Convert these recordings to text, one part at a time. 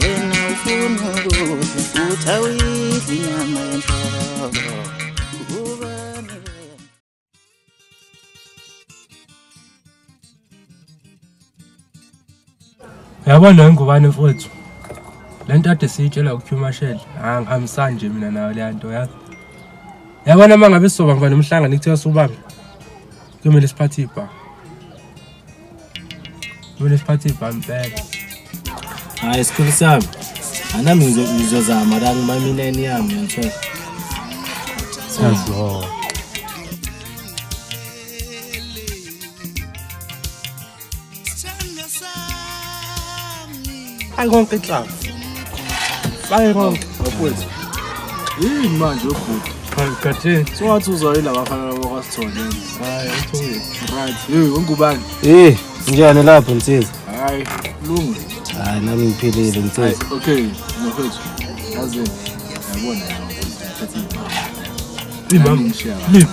wena ufuna ukudla uthi awuyidli inyama yenhloko ubani wena yabo leyo ngubane mfowethu le nto ade siyitshela uqhumashele angihambisani nje mina nayo leya nto yazi yabona uma ngabe sizoba mva nomhlangano kuthiwa subambe Kuyomele siphathe ibha. Kuyomele siphathe ibha impela. Hayi sikhulu sami. Anami ngizozama la ngimamineni yami ngiyathola. Siyazilwa. Hayi konke club. Hayi konke. Bakwethu. Yini manje ubhuti? Khathini. So wathi uzoyila abafana labo kwasithole. Hayi uthule. Right. Hey, ungubani? Eh, njani lapho msizi? Hayi, lungu. Hayi nami ngiphilile msizi. Okay, mfethu. Yazi. Yabona. Imam. Imam.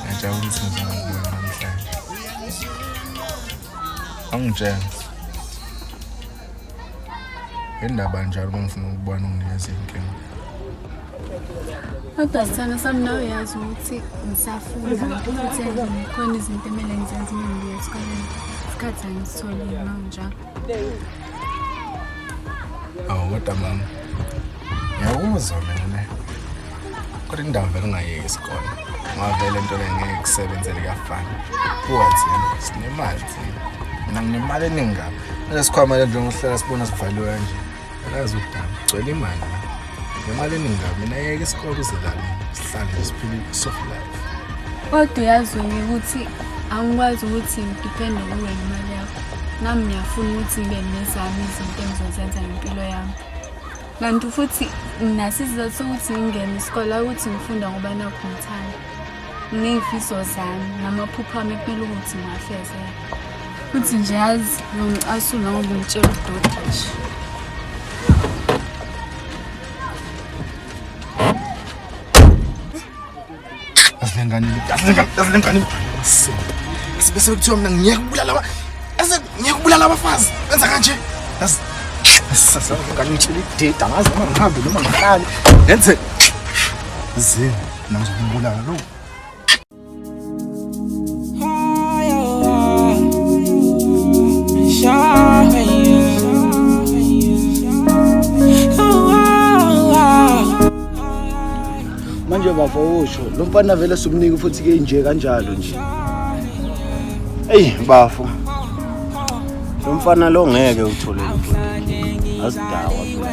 ngiyajabulisa ngizokubona namhlanje angitshela indaba njalo uma ngifuna ukubona unginikeza iy'nkinga kodwa sithanda sami nawe uyazi ukuthi ngisafunda futhi khona izinto emele ngizenze uma ngibuya esikoleni isikhathi angisitholi noma njalo awu kodwa mama ngiyakuzwa mina kodwa indawo vele ungayeki isikole ngavele into le ngeke kusebenzele kuyafana kuwathi sinemali thina mina nginemali eningi kabi nalesikhwama le njengokuhlala sibona sivaliwe kanje akazi udaba ugcwele imali la ngemali eningi kabi mina yeke isikole uzidlale sihlale nje siphile i-soft life kodwa uyazi wena ukuthi angikwazi ukuthi ngidipende kuwe ngemali yakho nami ngiyafuna ukuthi ngibe nezami izinto engizozenza ngempilo yami kanti futhi nginaso isizathu sokuthi ngingene isikole ukuthi ngifunda ngoba nakho ngithanda Ney'fiso zami namaphupho ami ekumele ukuthi ngiwafezele. Futhi nje yazi ngicasula ngoba ngitshela udoti nje. Asilengane, asilengane, asilengane. Sibe sekuthiwa mina ngiyeke ukubulala aba ase ngiyeke ukubulala abafazi. Benza kanje. Yaz. Sasa ngani ngitshela idida ngazi noma ngihambe noma ngihlale. Ngenze zini. Nangizokubulala lo. Manje bafo usho lo mfana vele sumnika futhi ke nje kanjalo nje. Ey bafo. Lo mfana lo ngeke uthole imfundo. Azidawa phela.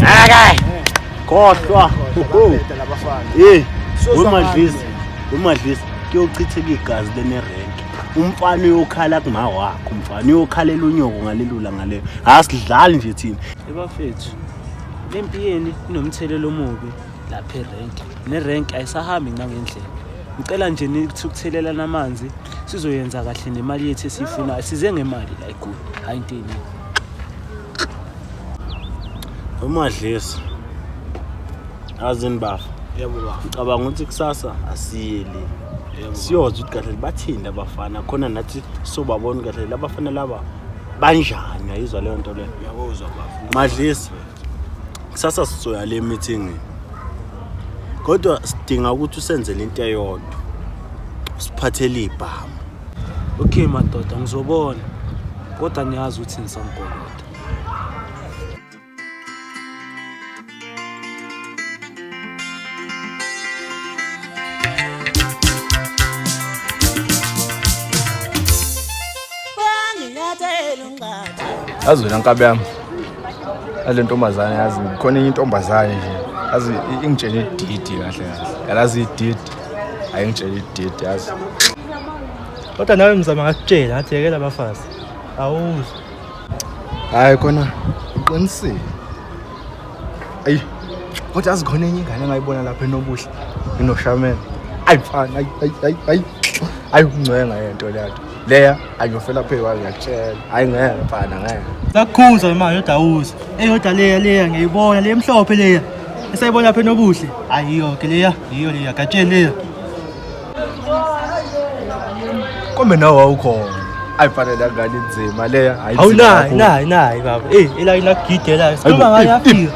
Akay. Khohlwa. Beta labafana. Hey. Wemadlisa. Wemadlisa. Kuyochitheka igazi lenerenk. Umfana uyokhala kuma wakho. Umfana uyokhalela unyoko ngalelula ngaleyo. Asidlali nje thina. Ebafethu. Lempi yeni inomthelelo omubi lapha erenk. Nerenk ayisahambi ngangendlela. Ngicela nje nithi ukuthelelana amanzi sizoyenza kahle nemali yethu esiyifuna. Size ngemali la eGoli. Hayi into eningi. umadlisa azini bafa yebo bafo ngicabanga ukuthi kusasa asiye le yebo siyozwa ukuthi kahle bathini abafana khona nathi sobabona ukuthi kahle labafana laba banjani ayizwa leyo nto leyo uyakuzwa bafo madlisa kusasa sizoya le meeting kodwa sidinga ukuthi usenzele into eyodwa siphathele ibhamu Okay madoda ngizobona kodwa niyazi ukuthi ngisamgolo. yazi wena nkabi yami ale ntombazane yazi khona enye intombazane nje yazi ingitshela ididi kahle kahle yalazi ididi ayi ngitshela ididi yazi kodwa nawe mzama ngakutshela ngathi yekela abafazi awuzwa hayi khona uqinisile ayi kodwa yazi khona enye ingane engayibona lapha enobuhle inoshamela ayi mfana ayi ayi ayi ayi ungcwenga yento leyato leya angiyofela phe kwayo ngiyakutshela hayi ngeke mfana ngeke sakukhuza manje yodawuza eyoda leya leya ngiyibona le mhlophe leya esayibona phe nobuhle ayiyo ke leya yiyo leya gatsheni leya kombe nawe wawukhona ayifanele angani inzima leya hayi hawu inzima nayi kakhulu. nayi nayi baba eyi elayini akugidelayo sikhuluma ngayo yafika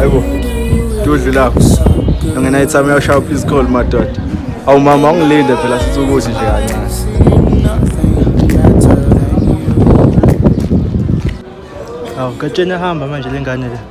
ayibo dudli lapho angena ithami uyashaya please call madoda awu mama ungilinde phela sithi ukuthi nje kancane awu katsheni ahamba manje le ngane le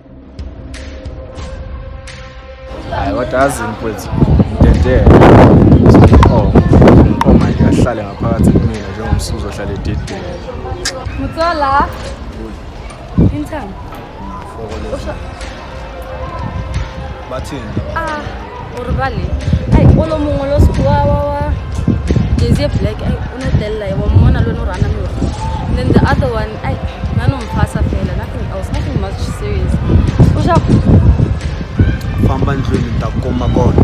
hayi kodwa azini mfowethu ngidedele oh oh my god ahlale ngaphakathi kumina njengomsuzo ohlale ededele mutsola intanga bathini ah Urubali. Ay, olo mongwe lo sku wa wa wa. Jezie black ay uno della ya wamona lo no rana mi. Then the other one ay nano mfasa fela nothing else nothing much serious. Usha famba ndlwini ta kuma kona.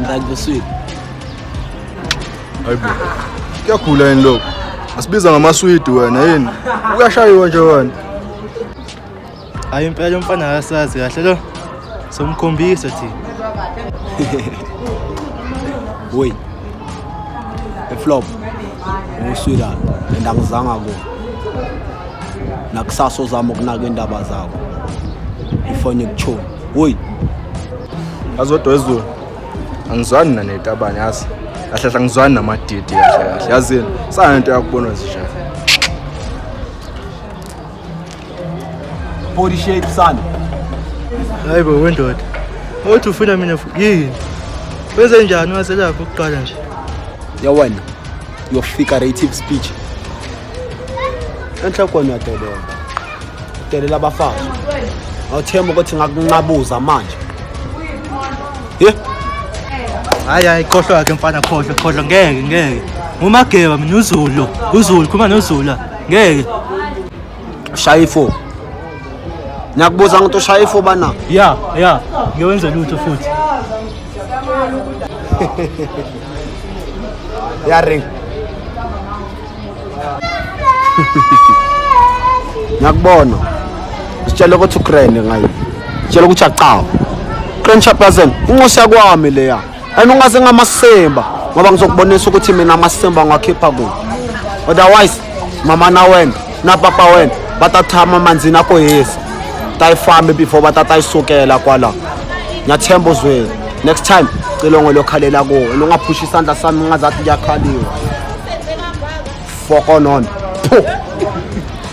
ngakubuswile hayibo kuyagula yini lokho asibiza ngamaswidi wena yini uyashayiwa nje wena Hayi impela umfana akasazi kahle lo. Somkhombisa thina. Boy. Eflop. Uswila and angizanga ku. Nakusasa uzama ukunaka indaba zakho. Ifone ikuchoma. Boy. Azodwa ezulu. Angizwani nanetabane yazi. Kahle kahle angizwani namadidi kahle kahle. Yazini. Sana into yakubona nje. body shape sana hayi bo wendoda awuthi ufuna mina yini wenze njani waselapho ukuqala nje yawena your figurative speech enhla kona delela delela abafazi awuthemba ukuthi ngakunqabuza manje ye hayi hayi khohlwa yakhe mfana khohlwa khohlwa ngeke ngeke umageba mina uzulu uzulu khuma nozula ngeke ushaya ifo ngiyakubuza ngokuthi ushaya ifo bana ya ya ngiyowenza lutho futhi ya ring ngiyakubona sitshela ukuthi ukrene ngayo sitshela ukuthi acawa krene chaplazen inxusa kwami leya and ungaze ngamasimba ngoba ngizokubonisa ukuthi mina amasimba ngiwakhipha kuyo otherwise mama na wena na papa wena va ta tshama mandzini a ko hisa ta yi fambi before va ta ta yi sukela kwala nyathemba uzweni next time cilongo lokhalela kuwo lo nga phushi isandla sami ungazathi kuyakhaliwa fokonon phu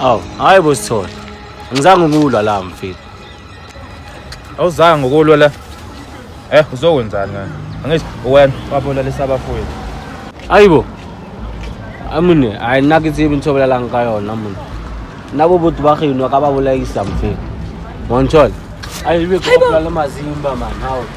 Awu, hayi bo Sithole. Angizange ukulwa la mfethu. Awuzange ukulwa la. Eh, uzokwenzani ngani? Angithi wena wabola lesabafowethu. Hayibo. Amune, hayi nake tsibe ntshobela lang ka yona mona. Nabo botho ba geno ka ba bolaisa mfethu. Montshol. Hayibo, hayibo. Hayibo.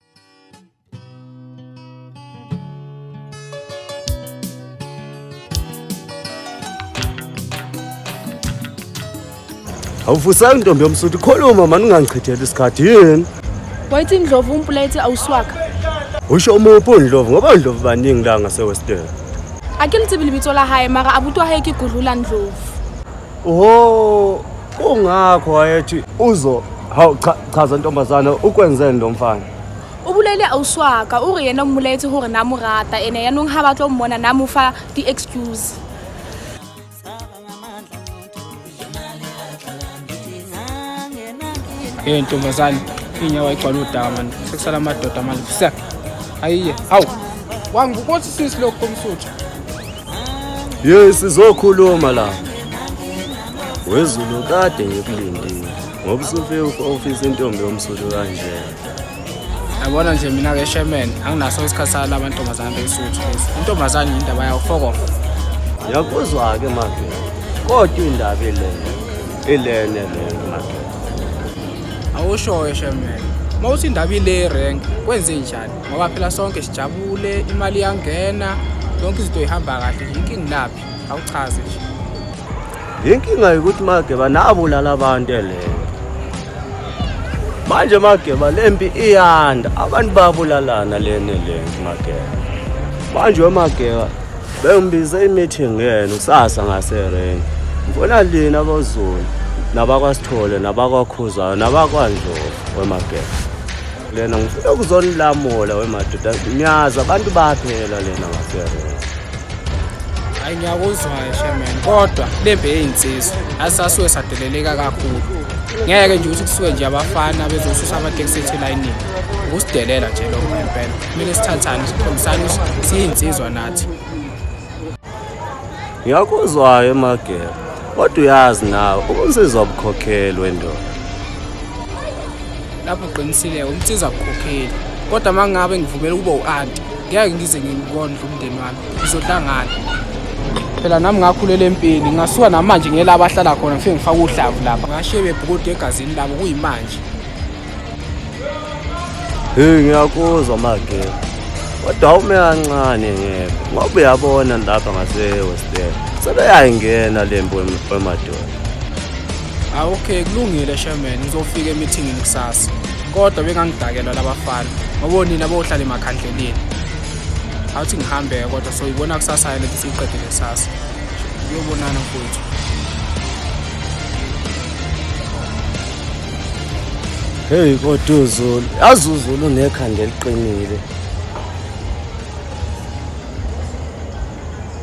awuvusela intombi yomsuthu khuluma mani ungangichitheli isikhathi yini wayithi indlovu umpuleti awuswaka usho umuphi undlovu ngoba undlovu baningi la ngasewestern a ke le tsebe lebitso la hae mara abuti wa hae ke gudlula ndlovu Oho, kungakho wayethi uzo hawu cha chaza ntombazana ukwenzeni lo mfana. Ubulele auswaka uri yena umuletse hore na mo rata ene ya nong ha ba tlo mmona na mo fa di excuse. Hey ntombazane, inyawo ayigcwala udaka manje. Sekusala amadoda manje. Sek. Ayiye. Awu. Wangibukothi sisi lokho umsuthu. Yes, sizokhuluma la. Wezulu kade ngikulindile. Ngoba usufika ofisa intombi yomsuthu kanje. yabona nje mina ke sherman anginaso isikhathi sala amantombazane besuthu lezi intombazane yindaba yawo fokofa yakuzwa-ke make kodwa indaba ilene ilene lena make awushoyo sherman uma uthi indaba ile rank kwenze njani ngoba phela sonke sijabule imali iyangena yonke izinto ihamba kahle nje inkingi laphi awuchaze nje inkinga yokuthi mageba nabulala abantu eleyo manje mageba lempi iyanda abantu babulalana lene lempi mageba manje wemageba bengibize i-meeting yena kusasa ngaserenki ngifuna lina abazulu nabakwasithole nabakwakhuzana nabakwanjova wemageba lena ngifuna ukuzonilamula wemadoda ngiyazi abantu baphela lena ngaserona hayi ngiyakuzwayo shaman kodwa lembe eyinsizwa asasuke sadeleleka kakhulu ngeke nje ukuthi kusuke nje abafana bezosusa amateksi ethu elayinini ukusidelela nje lokho ngempela kumele sithathane sikhombisane siyinsizwa nathi ngiyakuzwayo emageba kodwa uyazi nawe ubunsizwa bukhokheli wendoda lapho uqinisile umsiza bukhokheli kodwa uma ngabe ngivumela ukuba u-anti ngeke ngize ngikondle umndeni wami ngizohlangana phela nami ngakhulela empini ngingasuka namanje ngiyela abahlala khona ngifike ngifake uhlavu lapha ngashebe bhukude egazini labo kuyimanje Hey ngiyakuzwa mage. Kodwa ume kancane ngeke. Ngoba uyabona lapha ngase West End. Sebeyayingena lembo emadolo. Ah okay kulungile Sherman uzofika emeeting kusasa. Kodwa bengangidakelwa labafana. Ngoba nina bohlala emakhandleleni. Awuthi ngihambe kodwa so ibona kusasa yena ukuthi siqedile kusasa. Uyobonana mfowethu. Hey kodwa uZulu, yazi uZulu unekhanda eliqinile.